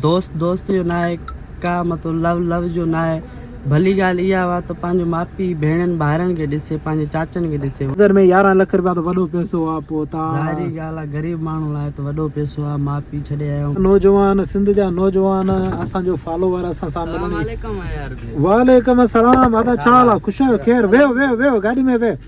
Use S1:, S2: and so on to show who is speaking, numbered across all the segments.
S1: دوست دوست جو ناهي، ڪا مطلب لو لو جو ناهي، ڀلي ڳالهه اها هئا ته پنهنجو ماء پيء، ڀيڻين ڀائرن کي ڏسي، پنهنجي چاچن کي ڏسي. نظر ۾ يارهن لک رپيا
S2: ته وڏو پئسو آ پوء تان. ظاهري ڳالهه آ
S1: غريب ماڻهو
S2: لاء
S1: ته وڏو پئسو آ، ماء پيء ڇڏي آيو. نوجوان سنڌ جا
S2: نوجوان اسان جو فالوور اسان سان ملڻ جي. سلام
S1: عليڪم عيار
S2: ڀيء. وعليڪم السلام ادا ڇا حال آ خوش آهيو خير ويهو ويهو ويهو گاڏي ۾ ويهه.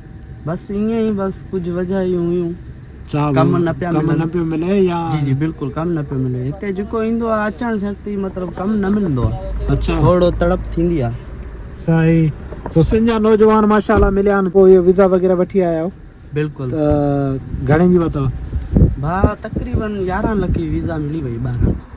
S2: بس ائين ئي
S1: بس ڪجهه وجهايون هيون ڪم نه
S2: پيا ملن نه پيو ملي يا جي جي بلڪل ڪم نه
S1: پيو ملي هتي جيڪو ايندو آ اچڻ شرط ئي مطلب ڪم نه ملندو آ اچا ٿورڙو تڙپ
S2: ٿيندي
S1: آ سائين
S2: سو سنڌ جا نوجوان ماشاءالله مليا آهن پوء اهو ويزا وغيره وٺي آيا آهيو بلڪل ته
S1: گهڻي
S2: جي ورتو ڀا
S1: تقريبن يارهن لک جي ويزا ملي وئي ٻاهران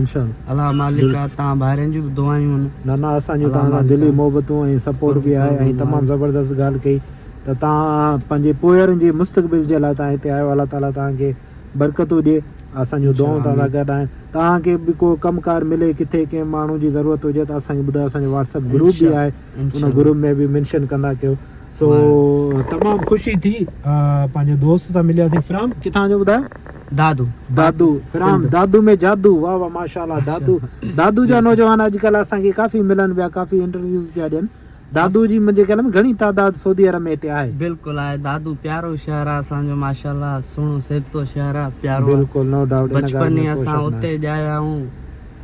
S1: انشاء الله مالڪ تان ڀائرن جون ته دعائون آهن نه نه اسان جون تان سان
S2: دلي محبتون ۽ سپورٽ به آهي ۽ تمام زبردست ڳالهه ڪئي ته تان پنهنجي پوئرن جي مستقبل جي لاء تان هتي آيو الله تعالي تان کي برڪتون ڏي اسان جون دعائون تان سان گڏ آهن تان کي به ڪو ڪم ڪار ملي کٿي ڪنهن ماڻهو جي ضرورت هجي ته اسان کي ٻڌايو اسان جو واٽس اپ گروپ به آهي ان گروپ ۾ به منشن ڪندا ڪيو سو تمام خوشي ٿي پنهنجي دوست سان ملياسين فرام ڪٿان جو ٻڌايو دادو دادو فرام دادو ۾ جادو واھ واھ ماشاءالله دادو دادو جا نوجوان اڄ ڪلهه اسان کي ڪافي ملن پيا ڪافي انٽرويوز پيا ڏين دادو جي منهنجي خيال ۾ گهڻي تعداد سعودي عرب ۾ هتي آهي بلڪل آهي دادو پيارو شهر آهي اسان جو ماشاءالله سهڻو سهبتو شهر آهي پيارو بلڪل نو ڊائوٽ بچپن اسان اتي ڄايا آهيون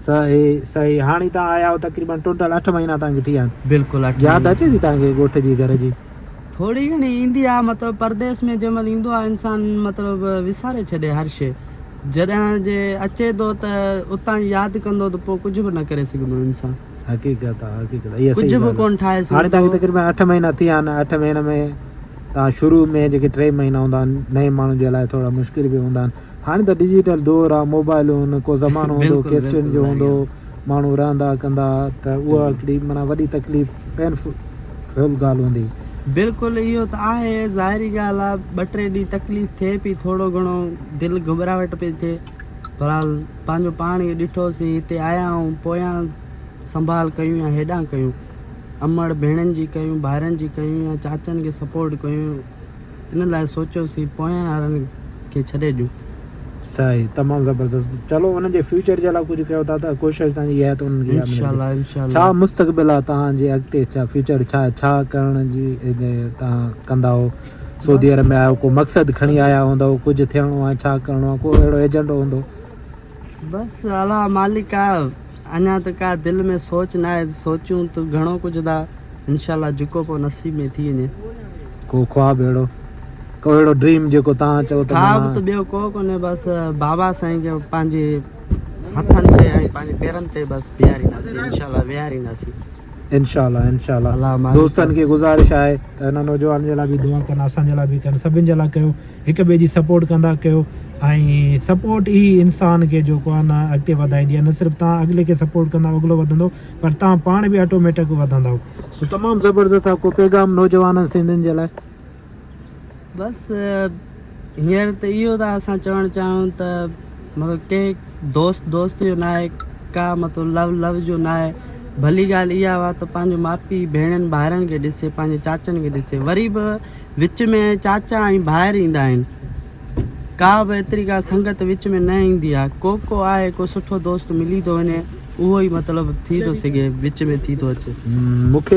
S2: صحيح صحيح هاڻي تهان آيا آهيو تقريبن ٽوٽل اٺ مهينا تهان کي ٿي ويا آهن بلڪل اٺ ياد مهينا اچي ٿي تهان کي ڳوٺ جي گهر جي. ٿوري گهڻي ايندي آهي مطلب پرديس ۾ جنهن مهل ايندو آهي انسان مطلب وساري ڇڏي هر شي جڏهن جي اچي ٿو ته اتان جي ياد ڪندو ته پوء ڪجهه به نه ڪري سگهندو انسان حقيقت آهي حقيقت اها ڪجهه صحيح به ڳالهه ڪونه ٺاهي آهي هاڻي تهان کي سگهندو تقريبن اٺ مهينا ٿي ويا آهن اٺ مهينن ۾ تهان شروع ۾ جيڪي ٽي مهينا هوندا آهن نئين ماڻهن جي لاء ٿورا مشڪل به هوندا آهن هاڻي ته ڊجيٽل دور آ موبائلون ڪو زمانو هوندو ڪيسٽن جو هوندو ماڻهو رهندا ڪندا ته اها هڪڙي معنيٰ وڏي تڪليف پين فل ڳالهه هوندي. بلڪل اهو ته آهي ظاهري ڳالهه آ ٻه ٽي ڏينهن تڪليف ٿئي پي ٿورو گهڻو دل گهٻراهٽ پي ٿئي بهرحال پنهنجو پاڻ اهي ڏٺو سين هتي آيا آهيون پويان سنڀال ڪيون يا هيڏانهن ڪيون امڙ ڀيڻن جي ڪيون ڀائرن جي ڪيون يا چاچن کي سپورٽ ڪيون ان لاء سوچيوسين پويان وارن کي ڇڏي ڏيون. صحيح تمام زبردست چلو انهن جي فيوچر جي لاء ڪجهه ڪيو ٿا ته ڪوشش تهان جي اها آهي ته انهن کي اها ملندي انشاءالله انشاءالله. ڇا مستقبل آهي تهان جي اڳتي ڇا فيوچر ڇا آهي ڇا ڪرڻ جي تهان ڪندا آهو سعودي عرب ۾ آهيو ڪو مقصد کڻي آيا هوندؤ ڪجهه ٿيڻو آهي ڇا ڪرڻو آهي ڪو اهڙو ايجنڊو هوندو. بس الله مالڪ آهي. اڃا ته ڪا دل ۾ سوچ ناهي سوچيون ته گهڻو ڪجهه ٿا انشاء الله جيڪو پوء نصيب ۾ ٿي وڃي. ڪو خواب اهڙو ڪو اهڙو ڊريم جيڪو توهان چئو ته خواب ته ٻيو ڪو ڪونهي بس بابا سائين کي پنهنجي هٿن تي ۽ پنهنجي پيرن تي بس بيهارينداسين انشاء الله ويهارينداسين انشاء الله انشاء الله دوستن کي گذارش آهي ته هن نوجوان جي لاء به دعا ڪن اسان جي لاء به ڪن سڀن جي لاء ڪيو هڪ ٻئي جي سپورٽ ڪندا ڪيو ۽ سپورٽ ئي انسان کي جيڪو آهي نه اڳتي وڌائيندي آهي نه صرف تان اڳلي کي سپورٽ ڪندا اڳلو وڌندو پر تان پاڻ به آٽوميٽڪ وڌندو سو تمام زبردست آ ڪو پيغام نوجوانن سنڌين جي لاء بس هينئر ته اهو ته اسان چوڻ چاهيون ته مطلب
S1: ڪي دوست دوست جو ناهي ڪا مطلب لو لو جو ناهي ڀلي ڳالهه اها هئا ته پنهنجو ماء پيء ڀيڻن ڀائرن کي ڏسي پنهنجي چاچن کي ڏسي وري به وچ ۾ چاچا ۽ ڀائر ايندا آهن. ڪا به ايتري ڪا سنگت وچ ۾ نه ايندي آ. ڪو ڪو آهي ڪو سٺو دوست ملي ٿو وڃي اهو ئي مطلب ٿي ٿو سگهي وچ ۾ ٿي ٿو اچي. مون کي